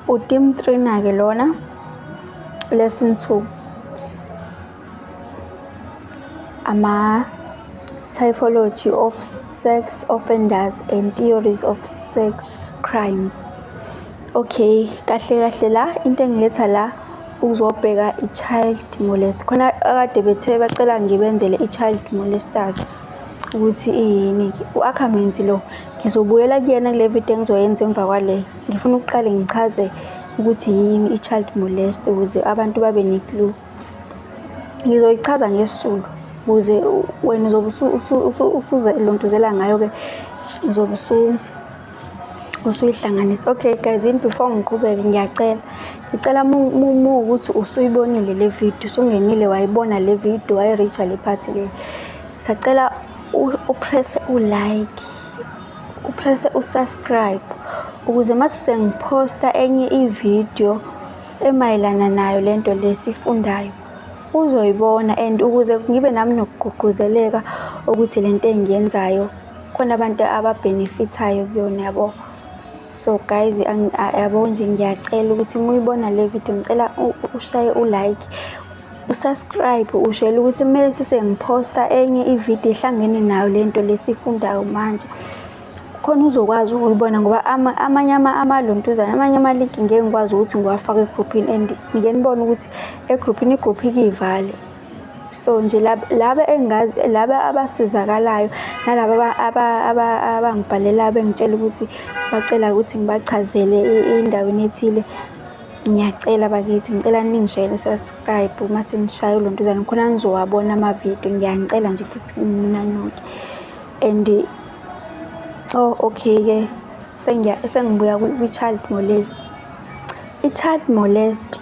Utim Trina ke lona lesson 2 ama typology of sex offenders and theories of sex crimes okay kahle kahle la into engiletha la uzobheka i-child molest khona akade bethe bacela ngibenzele i-child molesters ukuthi iyini u-akhamenzi lo ngizobuyela kuyena kule video engizoyenza emva kwale ngifuna ukuqale ngichaze ukuthi yini i-child molest ukuze abantu babe ne-clue ngizoyichaza ngesisulu ukuze wena uzobe usuze lontuzela ngayo-ke uzobe usuyihlanganisa okay guys yini before ngiqhubeke ngiyacela ngicela uma ukuthi usuyibonile le video usungenile wayibona le video wayireacha le phathi le sacela upresse ulike upresse usubscribe ukuze mase sengiphosta enye ivideo emayelana nayo lento lesifundayo uzoyibona and ukuze ngibe nami nokugqugquzeleka ukuthi lento engiyenzayo khona abantu ababhenefithayo kuyona yabo so guys yabo nje ngiyacela ukuthi muyibona le video ngicela ushaye ulike usubscribe ushele ukuthi kumele sisengiphosta enye ividiyo ehlangene nayo le nto lesifundayo manje khona uzokwazi ukuyibona ngoba amanye amalontuzana amanye ama-link ngeke ngikwazi ukuthi ngiwafake egruphini and ngike nibone ukuthi egruphini igruphi kiyivale so nje laba engazi laba abasizakalayo nalaba abangibhalelayo bengitshela ukuthi bacela ukuthi ngibachazele endaweni ethile ngiyacela bakithi ngicela ningishayele subscribe uma sengishaye ulontuzane khona ngizowabona amavidiyo ngiyanicela nje futhi ninanuke and oh okay ke sengibuya kwi-child molest i-child molest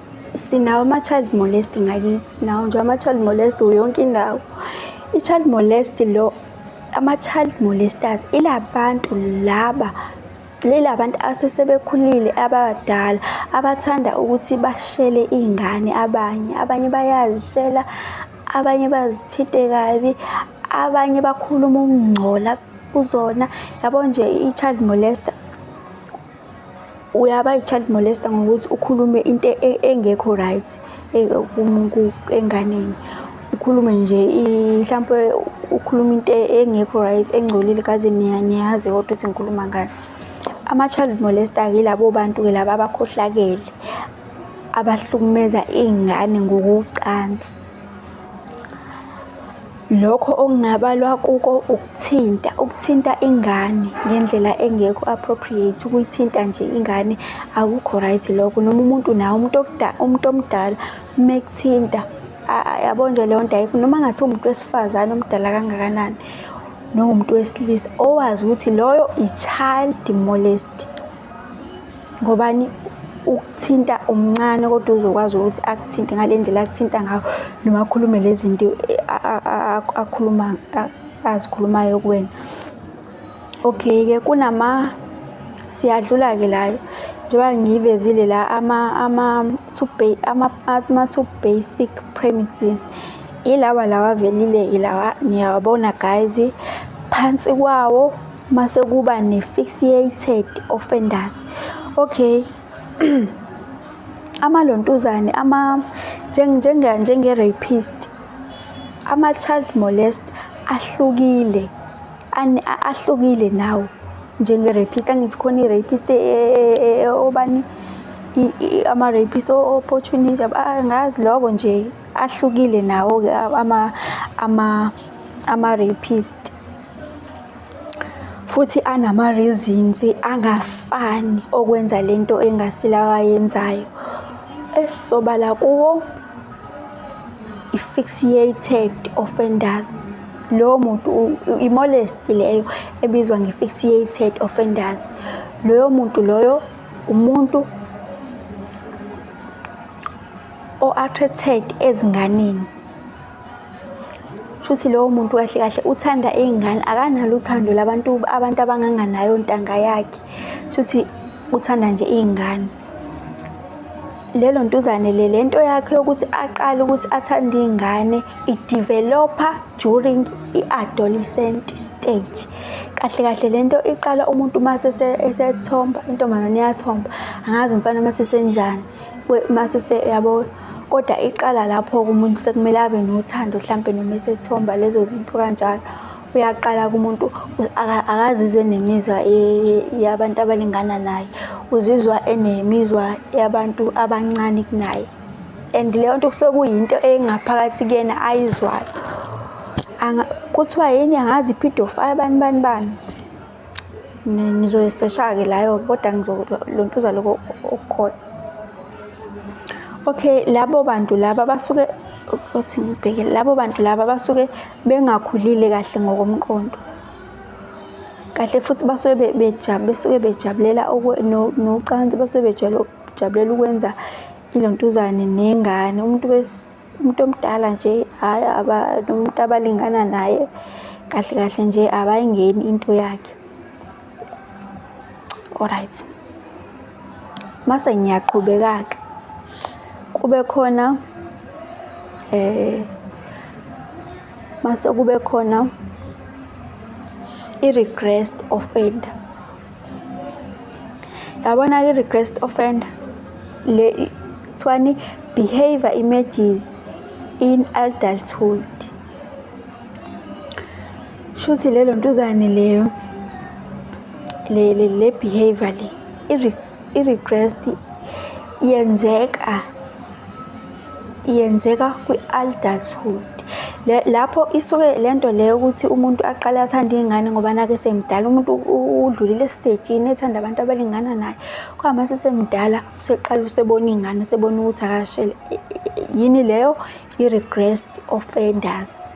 sinawo ama-child molest ngakithi sinawo nje ama-child molest yonke indawo i-child molest lo ama-child molesters ila bantu laba lila bantu asesebekhulile abadala abathanda ukuthi bashele iy'ngane abanye abanye bayazishela abanye bazithinte kabi abanye bakhuluma ukungcola kuzona yabo nje i-child molester uyaba i-child molester ngokuthi ukhulume into e-, engekho right e-, enganeni ukhulume nje mhlawumpe ukhuluma into engekho right engcolile kaze niyazi kodwa ukuthi ngikhuluma ngani ama-child molester-ke yilabo bantu-ke laba abakhohlakele abahlukumeza iy'ngane ngokocansi Lokho okungabalwa kuko ukuthinta, ukuthinta ingane ngendlela engekho appropriate, ukuyithinta nje ingane akukho right lokho. Noma umuntu naye umuntu okudala, umuntu omdala uma ekuthinta yabo nje leyo nto ayikho. Noma ngathi umuntu wesifazane omdala kangakanani noma umuntu wesilisa owazi ukuthi loyo i-child molest. ngobani ukuthinta umncane kodwa uzokwazi ukuthi akuthinte ngale ndlela akuthinta ngayo noma akhulume lezi zinto akhuluma azikhulumayo kuwena okay-ke kunama siyadlula-ke layo njengoba ngiyivezile la ama-two basic premises ilawa lawa avelile ilawa niyawabona guys phansi kwawo mase kuba ne-fixated offenders okay amalontuzane ama njenge njenge rapist ama child molest ahlukile ahlukile nawo njenge rapist angithi khona i rapist e, e, e, obani ama rapist o opportunity angazi lokho nje ahlukile nawo ke ama ama ama rapist futhi anama-reasons angafani okwenza le nto engasilawa ayenzayo esisobala kuwo i-fixiated offenders lowo muntu i-molest leyo ebizwa nge-fixiated offenders loyo muntu loyo umuntu o-attracted ezinganeni shuthi lowo muntu kahle kahle uthanda iy'ngane akanalo uthando labantu abantu abanganganayo ntanga yakhe shuthi uthanda nje iy'ngane lelo ntuzane le lento yakhe yokuthi aqale ukuthi athande iy'ngane ideveloper during i-adolescent stage kahle kahle lento iqala umuntu uma sesethomba intombazane iyathomba angazi umfana uma sesenjani mase se yabo kodwa iqala lapho-ke umuntu sekumele abe nothando hlampe noma esethomba lezo zinto kanjalo uyaqala kumuntu akazizwe nemizwa yabantu abalingana naye uzizwa enemizwa yabantu abancane kunaye and leyo nto kusuke kuyinto engaphakathi kuyena ayizwayo kuthiwa yini angazi i-pedophile bani bani bani. Nizoyisesha-ke layo kodwa ngizolontuza lokho okukhona. Okay, labo bantu laba basuke othi ngibheke labo bantu laba basuke bengakhulile kahle ngokomqondo. Kahle futhi basuke bejabule besuke bejabulela nocansi basuke bejabulela ukwenza ilontuzane nengane umuntu Umuntu omdala nje hhayi nomuntu abalingana naye kahle kahle nje abayingeni into yakhe alright mase ngiyaqhubeka-ke kube khona eh mase kube khona i-regressed offender yabona ke request offend le kuthiwani behavior images in adulthood shuthi lelo ntuzane leyo le le behavior le i request yenzeka yenzeka kwi-adulthood lapho isuke le nto leyo ukuthi umuntu aqale athande iy'ngane ngoba nake semdala umuntu udlulile esitejini ethanda abantu abalingana naye kwama sesemdala useqala usebona iy'ngane usebona ukuthi akashele yini leyo i-regressed offenders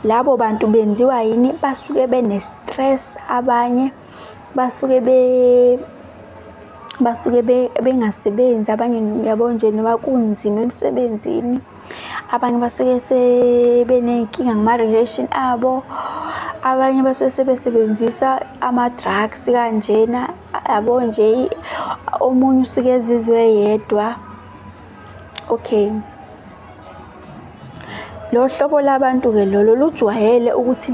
labo bantu benziwa yini basuke bene-stress abanye basuke be basuke bengasebenzi abanye yabo nje noma kunzima emsebenzini, abanye basuke sebeney'nkinga ngama-relation abo, abanye basuke sebesebenzisa ama-drugs kanjena yabo nje, omunye usuke ezizwa eyedwa. Okay. Lo hlobo labantu-ke lolo lujwayele ukuthi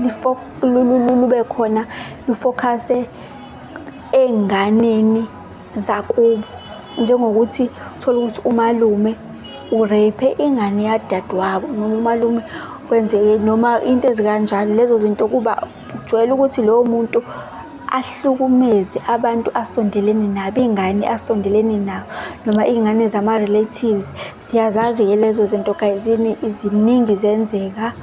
lube khona lufokhase ey'nganeni zakubo. Njengokuthi uthole ukuthi umalume ureyiphe ingane yadadewabo noma umalume kwenzeke noma into ezikanjalo. Lezo zinto kuba. Kujwayele ukuthi lowo muntu ahlukumeze abantu asondelene nabo, iy'ngane asondelene nawo noma iy'ngane zama-relatives. Siyazazi-ke lezo zinto guys, ziningi zenzeka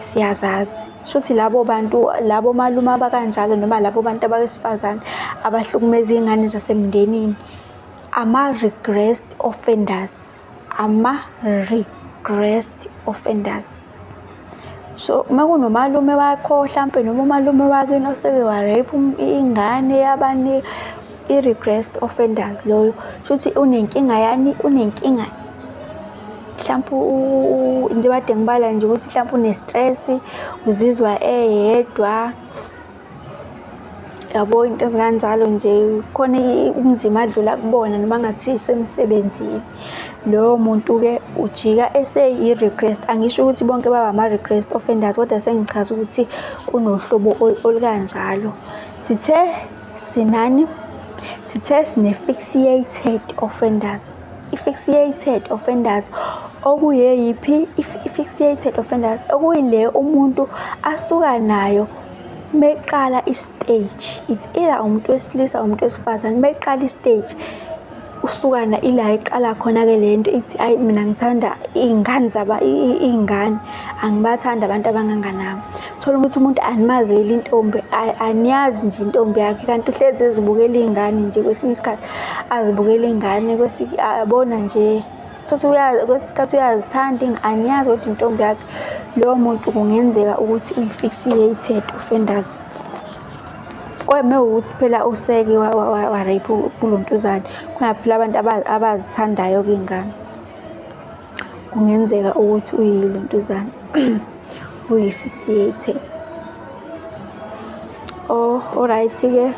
siyazazi. Shuthi labo bantu labo malume abakanjalo noma labo bantu abesifazane abahlukumeza iy'ngane zasemndenini ama-regressed offenders. ama-regressed offenders so uma kunomalume wakho hlampe noma umalume wakini oseke wa-rape um, ingane yabani i-regressed offenders loyo shuthi unenkinga yani unenkinga mhlawumpe into kade ngibala nje ukuthi mhlawumpe une-stress uzizwa eyedwa yabo into ezikanjalo nje khona ubunzima adlula kubona noma ngathiwa isemsebenzini lowo muntu-ke ujika eseyi-request angisho ukuthi bonke baba ama-request offenders kodwa sengichaza ukuthi kunohlobo olukanjalo sithe sinani sithe sine-fixiated offenders i-fixiated offenders okuyeyiphi i-fixiated offenders okuyileyo umuntu asuka nayo meqala istage it's either umuntu wesilisa umuntu wesifazane meqala istage usukana ila iqala khona ke lento ithi ayi mina ngithanda izingane zaba izingane angibathanda abantu abanganganami thola ukuthi umuntu animazeli intombi aniyazi nje intombi yakhe kanti uhlezi ezibukela izingane nje kwesinye isikhathi azibukela izingane kwesi abona nje Sothi uyazi kwesikhathi uyazithanda angiyazi ukuthi intombi yakhe lowo muntu kungenzeka ukuthi uyifiksile i-third offenders kweme ukuthi phela useke warape kulo ntuzane kunaphela abantu abazithandayo kuyingane kungenzeka ukuthi uyile ntuzane uyi-58 oh alright-ke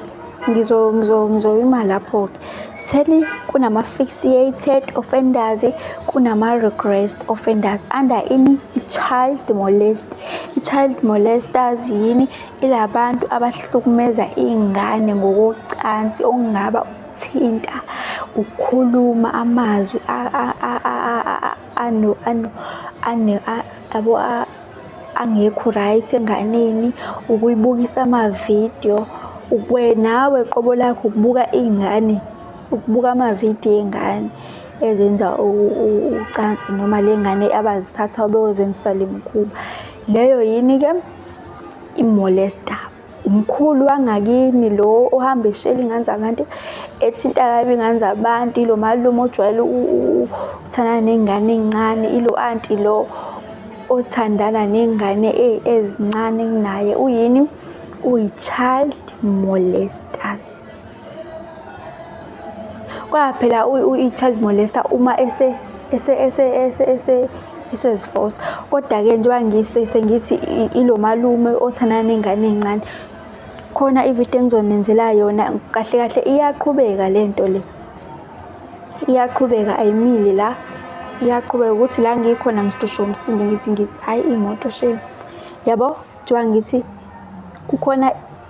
ngizoyima lapho-ke seni kunama-fixated offenders kunama-regressed offenders under ini i-child molest i-child molesters yini ilabantu abahlukumeza iy'ngane ngokocansi okungaba ukuthinta ukukhuluma amazwi ano ano ane yabo angekho right enganeni ukuyibukisa amavidiyo nawe qobo lakho ukubuka iy'ngane ukubuka amavidiyo ey'ngane ezenza ucansi noma le ngane abazithatha beyozenza isalimkhuba leyo yini-ke imolesta umkhulu wangakini lo ohamba eshela ingane zabantu ethinta kabi ingane zabantu ilo malume ojwayele ukuthandana ney'ngane ey'ncane ilo anti lo othandana ney'ngane ezincane kunaye uyini uyi-child molesters Kwa phela i-child molester uma ese ese ese ese ese isezifosta kodwa-ke njengoba ngise sengithi ilo malume othandana nengane encane khona ividiyo engizonenzela yona kahle kahle iyaqhubeka le nto le iyaqhubeka ayimile la iyaqhubeka ukuthi la ngikhona ngihlushwa umsindo ngithi ngithi hhayi imoto shame yabo njengoba ngithi kukhona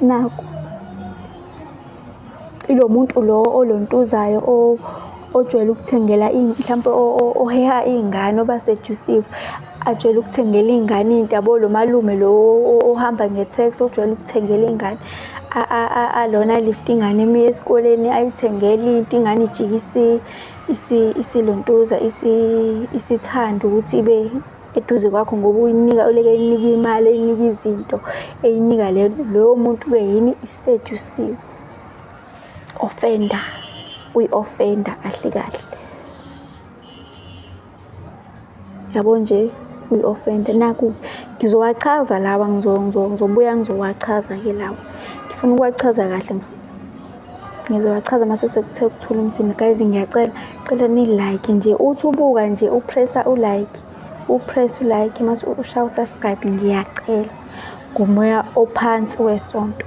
Naku. Ilo muntu lo olontuzayo ojwayele ukuthengela mhlawumpe oheha iy'ngane oba sedusive ajwayele ukuthengela iy'ngane into yabo lo malume lo ohamba nge-tax ojwayele ukuthengela iy'ngane alona lift ingane emiya esikoleni ayithengele into ingane ijike isilontuza isithanda ukuthi ibe eduze kwakho ngoba uyinika uleke eyinika imali eyinika izinto eyinika le lowo muntu ke yini isedusiwe ofenda uyi-ofenda kahle kahle yabo nje uyi-ofenda naku ngizowachaza lawa ngizobuya ngizowachaza ke lawa ngifuna ukuwachaza kahle Ngizowachaza mase sekuthe ukuthula umsindo. Guys ngiyacela cela ni like nje uthi ubuka nje upressa u like upress u like mase ushaya u subscribe ngiyacela ngomoya ophansi wesonto.